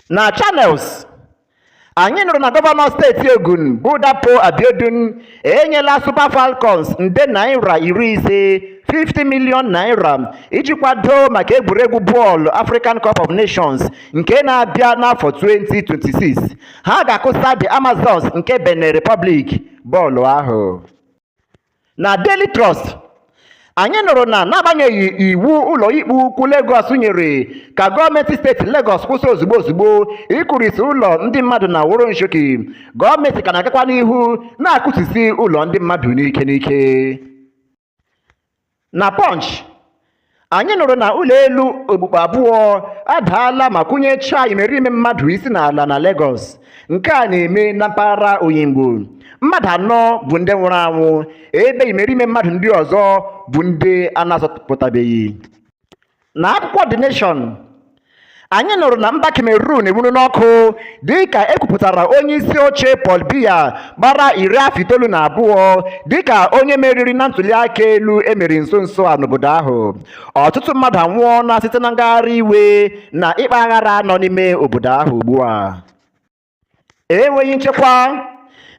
Na Channels, anyị nụrụ na gọvanọ steeti Ogun bụ Dapo Abiodun enyela Super Falcons nde naira iri ise 50 million naira iji kwado maka egwuregwu bọọlụ African Cup of Nations nke na-abịa n'afọ 2026. Ha ga-akụsa The Amazons nke Benin Republic bọọlụ ahụ. na Daily Trust anyị nụrụ na n'agbanyeghị iwu ụlọikpe ukwu Lagos nyere ka gọọmenti steeti Lagos kwụsị ozugbo ozugbo ịkụrisi ụlọ ndị mmadụ n'Oworonshoki gọọmenti ka na-agakwa n'ihu na-akụsisi ụlọ ndị mmadụ n'ike n'ike Na Punch, anyị nụrụ na ụlọ elu okpukpu abụọ adaala ma kụnyechaa imerime mmadụ isi n'ala na Legọs. Nke a na-eme na mpaghara Oyingbo. Mmadụ anọ bụ ndị nwụrụ anwụ ebe imerime mmadụ ndị ọzọ bụ ndị a na-azọpụtabeghị. Na akwụkwọ The Nation, anyị nụrụ na mba Cameroon enwuruna ọkụ dịka e kwupụtara onye isi oche Paul Biya gbara iri afọ itoolu na abụọ dịka onye meriri na ntụliaka elu e mere nso nso a n'obodo ahụ. Ọtụtụ mmadụ anwụọla site na ngagharị iwe na ịkpa aghara nọ n'ime obodo ahụ ugbu a. enweghị nchekwa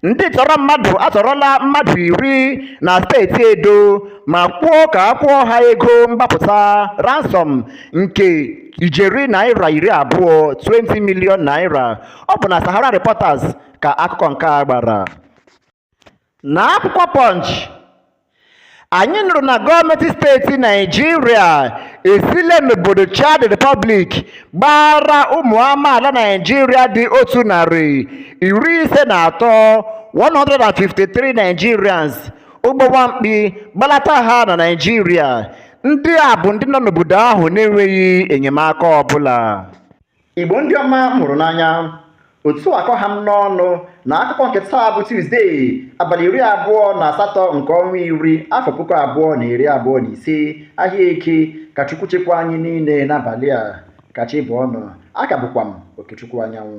ndị tọrọ mmadụ atọrọla mmadụ iri na steeti edo ma kwuo ka a kwụọ ha ego mgbapụta ransom nke ijeri naira iri abụọ 20 million naira ọ bụ na sahara reporters ka akụkọ nke a gbara na akwụkwọ Punch anyị nụrụ na gọọmenti steeti naijiria esile n'obodo chad republic gbara ụmụ amaala naijiria dị otu narị iri ise na atọ 153 nigerians ụgbọ nwamkpi gbalata ha na naijiria ndị a bụ ndị nọ n'obodo ahụ na-enweghị enyemaka ọbụla Igbo ndị ọma m hụrụ n'anya otu a ka ọ ha m n'ọnụ na akụkọ nke taa bụ Tuzdee abalị iri abụọ na asatọ nke ọnwa iri afọ puku abụọ na iri abụọ na ise ahịa eke ka Chukwu chekwa anyị niile n'abalị a ka chi bọọ nụ a ka bụkwa m Okechukwu Anyanwụ